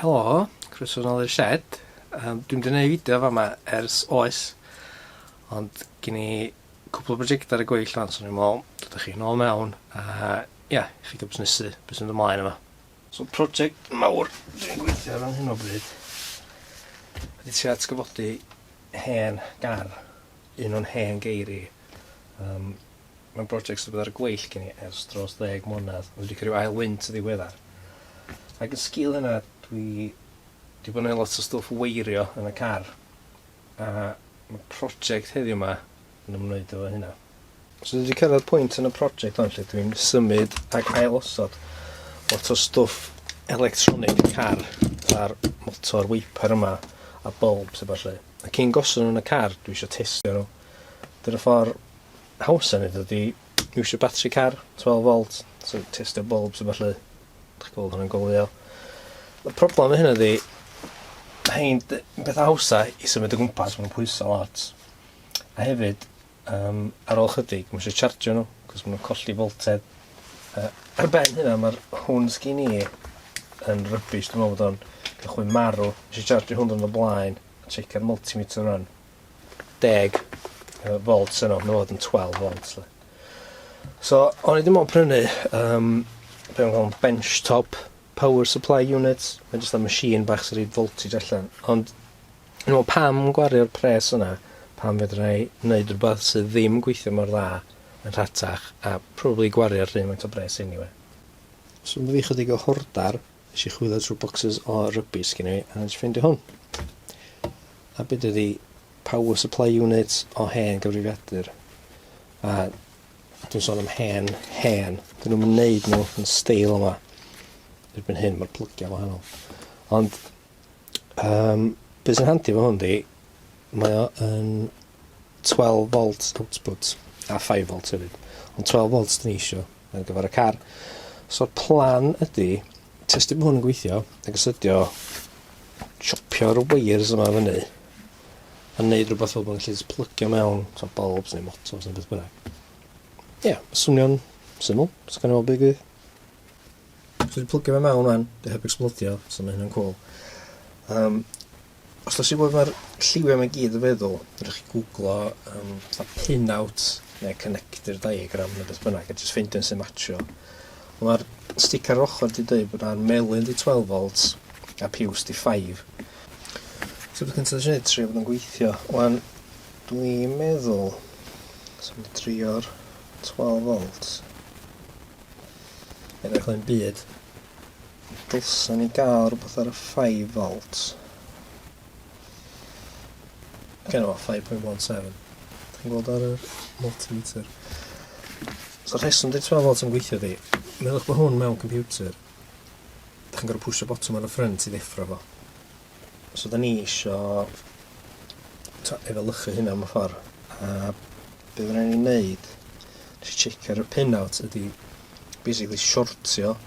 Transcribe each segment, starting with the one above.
Helo, croeso nol i'r shed. Um, dwi'n mynd i wneud fideo fama ers oes, ond gen i cwpl o brosiectau ar y gweill fan, so ni'n meddwl, dod â chi nôl mewn, a ia, yeah, i ffidio busnesu, beth sy'n ymlaen yma. So, prosiect mawr dwi'n gweithio ar hyn o bryd, ydy ti atgyfodi hen gar, un o'n hen geiri, um, Mae'n brosiect sydd wedi bod ar y gweill gen i ers dros ddeg mlynedd, ond dwi wedi cael rhyw ail wynt yn ddiweddar. Ac yn sgil hynna, dwi 'di bod yn neud lot o stwff weirio yn y car, a ma' project heddiw 'ma yn ymwneud efo hynna. So dwi 'di cyrraedd pwynt yn y project hon lle dwi'n symud ac ail-osod lot o stwff electronig y car, fatha'r motor wiper yma a bulbs a ballu. A cyn gosod nhw yn y car, dwi isio testio nhw. Dyna ffordd haws a neud o ydi iwsio batri car, twelve volt, so testio bwlbs a ballu. Dach chi'n gweld hwnna'n goleuo. Y problem efo hynna ydi, rhein d- yn petha hawsa i symud o gwmpas, ma' nw'n pwyso lot. A hefyd, um, ar ôl chydig, mae eisiau chargio nhw, cos ma' nhw'n colli voltedd. Uh, ar ben hynna, mae'r hwn sgyn i yn rybys, dwi'n meddwl bod o'n cychwyn marw. Eisiau chargio hwn yn y blaen, a checio'r multimeter run. deg yy volts yno, ma' fod yn 12 volts 'lly. So, o'n i ddim ond prynu um, be' o'n galw'n bench top power supply unit, mae'n jyst am machine bach sy'n rhoi voltage allan. Ond, no, pam gwario'r pres yna, pam fedra i wneud rhywbeth sydd ddim yn gweithio mor dda yn rhatach, a probably gwario'r rhywun mae'n to bres anyway. So, mae fi chydig o hordar. Nes i chwilio trwy bocsys o rygbi sgyn i a nes i ffeindio hwn. A beth ydi power supply unit o hen gyfrifiadur. A dwi'n sôn am hen, hen. Dyn nhw'n neud nhw yn steil yma. Erbyn hyn mae'r plygiau wahanol. Ond um, beth sy'n handi fo hwn di, mae o yn 12 volt output a 5 volt hefyd. Ond 12 volt dyn ni eisiau. ar gyfer y car. So'r plan ydy testio bod hwn yn gweithio ac astudio chopio'r wires yma fyny a neud rhywbeth fel bod yn lle plygio mewn so bulbs neu motors neu beth bynnag. Ie, yeah, swnio'n syml, so gan i weld beth gwyd. So wedi plygio fe mewn rwan, dy heb explodio, so mae hynna'n cool. Um, Os dach chi isio gwybod be mae'r lliwiau yma i gyd yn feddwl, fedrwch chi gwglo um, fatha pin-out neu connector diagram neu beth bynnag a jyst ffeindio un sy'n matcho. Mae'r stick ar ochr di dweud bod yna'r melyn di 12 volts a piws di 5. So dwi'n cyntaf eisiau gwneud trio bod yn gweithio. Wan, dwi'n meddwl, so mi trio'r 12 volts. Edrych yn byd. Dylsen ni gael rhywbeth ar y five volt. Gen o 5.17. Ti'n gweld ar yr multimeter. So rheswm di 12 volt yn gweithio di. Meddwch bod hwn mewn computer. Da chi'n gorau pwysio botwm ar y ffrynt i ddeffro fo. So da ni isio efelychu hynna mewn ffordd. A beth rhaid ni'n neud, nes i check ar y pin out, ydy basically shortio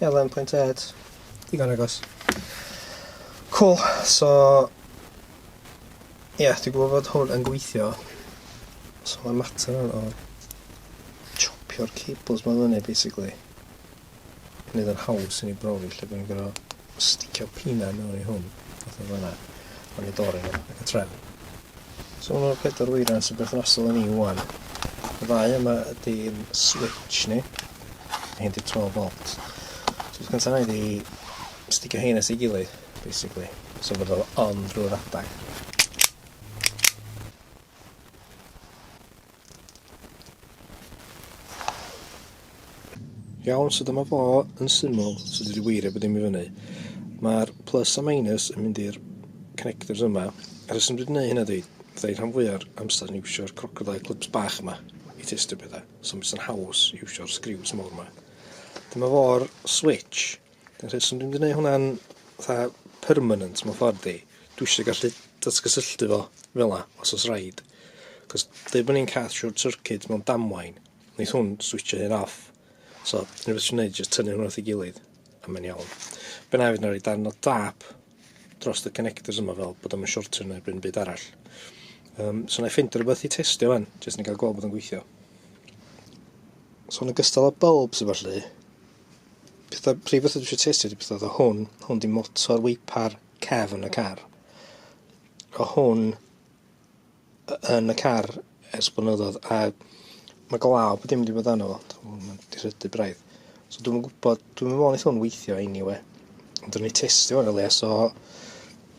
11.8. Digon agos. Cool, so... Ie, yeah, dwi'n gwybod fod hwn yn gweithio. So mae'n mater o'n o... Chopio'r cables mae'n fyny, basically. Nid yn haws i ni brofi lle bod ni'n gorau sticio pina mewn i hwn. Fath o fyna. Ond i dorri ac y trefn. So ma' 'na pedwar weiran sy'n berthnasol i ni ŵan. Y ddau yma ydy'n switch ni. Mae hyn 'di 12 volt. So beth gynta 'na i 'di sticio hein at ei gilydd, basically. So bod o on drwy'r adag. Iawn, so dyma fo yn syml, so dwi wedi weirio bod dim i fyny. Mae'r plus a minus yn mynd i'r connectors yma. A rheswm dwi wedi gwneud hynna di, fydda i rhan fwya'r amser yn iwsio'r crocodile clips bach yma i testio pethau, so mi sy'n haws iwsio'r sgriws mawr yma. Dyma fo'r switch, Dyna ti, so dwi'n mynd i wneud hwnna'n fatha permanent mewn ffordd i. Dwi eisiau gallu datgysylltu fo fel la, os oes rhaid. Cos dweud bod ni'n cath short circuit mewn damwain, wneud hwn switcho hyn off. So, dwi'n beth sy'n gwneud, jyst tynnu hwnna wrth ei gilydd, a mae'n iawn. Be na i fynd ar ei dan o dap dros y connectors yma fel bod o'n shortio neu bryn byd arall. Um, so, na i ffeindio rhywbeth i testio fan, jyst ni'n cael gweld bod o'n gweithio. So, yn ogystal â bulbs efallai, Pethau prifo sydd eisiau testio ydy pethau oedd o hwn. Hwn di motor weipar cefn y car. O hwn yn y car ers blynyddoedd a mae glaw bod dim wedi bod arno fo. Mae'n disrydu braidd. So dwi'n gwybod, dwi'n meddwl wnaeth hwn weithio anyway. Ond dwi'n ei testio yn y le, so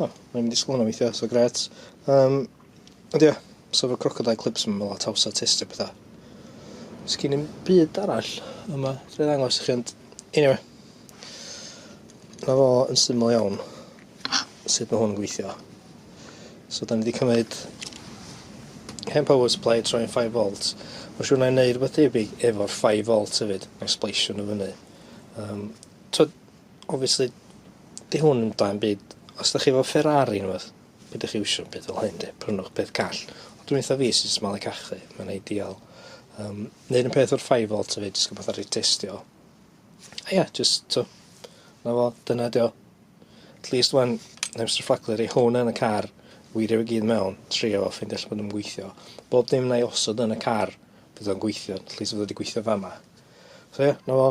O, mae'n mynd i sgwrno weithiau, so gret. Um, ond ie, so fy crocodile clips yma, lot house artist a pethau. Sgyn i'n byd arall yma, dwi'n ddangos i chi, ond anyway. Na fo yn syml iawn sut mae hwn yn gweithio. So da ni wedi cymryd hen power supply troi'n 5 volt. Mae'n siŵr na i wneud rhywbeth debyg efo'r 5 volt hefyd. Mae'n sbleisio nhw fyny. Um, twyd, Obviously 'di hwn ddim dan byd. Os 'dach chi efo Ferrari ne' wbath peidiwch chi iwsio 'm byd fel hyn 'de. Prynwch peth call. Ond dwi'n eitha fi sy'n malu cachu. Mae'n ideal. Yym neud yn peth o'r five volt efyd jyst rwbath aru testio. A ia jyst t'o' 'na fo dyna 'di o. At least ŵan mae Mister Fflacli roi hwn yn y car wirio fe gyd mewn trio fo ffeindio lle ma' nw'n gweithio. Bob dim 'nai osod yn y car bydd o'n gweithio at least fod o 'di gweithio fama. So ia 'na fo.